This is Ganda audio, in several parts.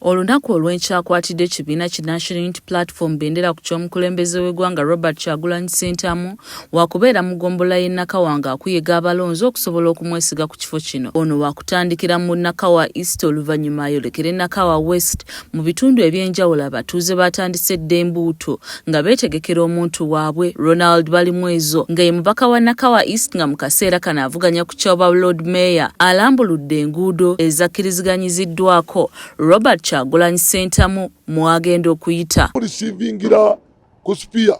Olunaku olw'enkya akwatidde ekibiina ki National Unity Platform bendera ku ky'omukulembeze w'eggwanga Robert Kyagulanyi Ssentamu wakubeera mu ggombolola y'e Nakawa ng'akuyega abalonzi okusobola okumwesiga ku kifo kino. Ono wakutandikira mu Nakawa East oluvannyuma ayolekere Nakawa West. Mu bitundu eby'enjawulo abatuuze baatandise dda embuuto nga beetegekera omuntu waabwe Ronald Balimwezo nga ye mubaka wa Nakawa East nga mu kaseera kano avuganya ku kyoba Lord Mayor alambuludde enguudo ezakiriziganyiziddwako Robert Kyagulanyi Ssentamu mwagenda okuyita mulisiivingira ku sipiya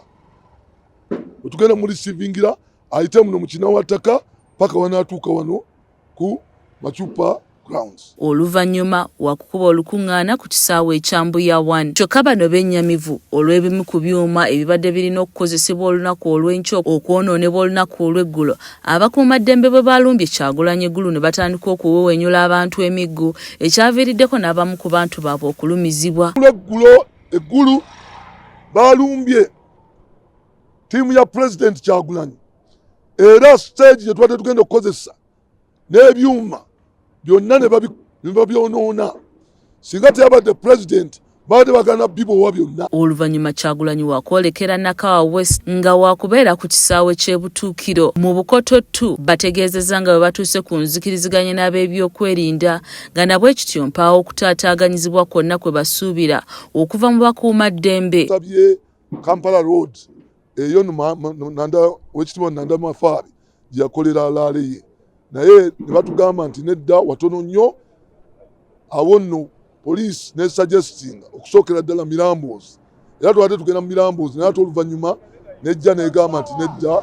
wetugenda mulisiivingira ayite muno mukinawattaka paka wanaatuuka wano ku Macupa Grounds. Oluvannyuma wakukuba olukungaana ku kisaawe ekya Mbuya One. Kyokka bano bennyamivu olw'ebimu ku byuma ebibadde birina okukozesebwa olunaku olw'enkya okwonoonebwa olunaku olw'eggulo abakuumaddembe bwe baalumbye Kyagulanyi eggulu ne batandika okuwewenyula abantu emiggu ekyaviiriddeko n'abamu ku bantu baabwe okulumizibwa. Eggulo eggulu baalumbye ttiimu ya Pulezidenti Kyagulanyi era siteegi gye tubadde tugenda okukozesa n'ebyuma byonna ne babyonoona singa teyabadde pulezidenti baali bagana bibowa byonna oluvannyuma kyagulanyi wakwolekera nakawa west nga wakubeera ku kisaawe ky'ebutuukiro mu bukoto tu bategeezezza nga bwe batuuse ku nzikiriziganya n'ab'ebyokwerinda nga nabwe kityo mpaawo okutaataaganyizibwa kwonna kwe basuubira okuva mu bakuuma ddembe kampala road eyo wekitibwa nanda mafaari gyeyakolera alaale ye naye nebatugamba nti nedda watono nnyo awo nno poliisi nesuggestinga okusookera ddala miramboozi era twate tugenda mu miramboozi naye ate oluvannyuma nejja negamba nti nedda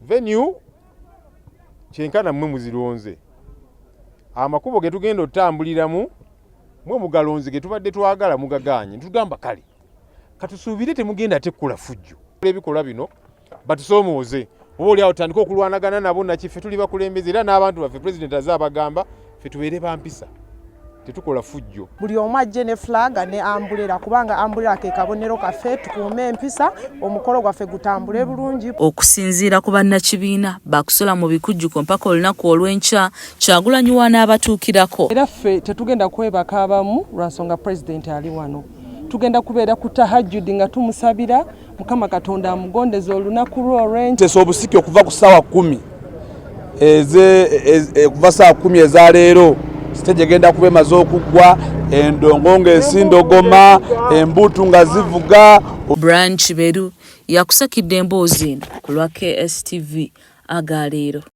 Venue kyenkana mmwe muzironze, amakubo ge tugenda otambuliramu mwe mugalonze ge tubadde twagala mugagaanye ne tugamba kale katusuubire temugenda ate kukola fujjo ebikolwa bino batusoomooze oba oli awo tutandike okulwanagana nabo nakiffe tuli bakulembeze era n'abantu baffe pulezidenti aze abagamba fe tubeere ba mpisa tetukola fujjo buli omu ajje ne flaga ne ambulera kubanga ambulera ke kabonero kaffe tukuume empisa omukolo gwaffe gutambule bulungi okusinziira ku bannakibiina bakusula mu bikujjuko mpaka olunaku olw'enkya kyagulanyiwa n'abatuukirako era ffe tetugenda kwebaka abamu lwa nsonga pulezidenti ali wano tugenda kubeera ku tahajjudi nga tumusabira mukama katonda amugondeza olunaku lwe olwentesa obusiki okuva ku saawa kumi okuva saawa kumi eza leero siteji egenda kuba emaze okuggwa endongo ngaesindogoma embuutu nga zivuga branch beru yakusakidde emboozi eno ku lwa kstv aga leero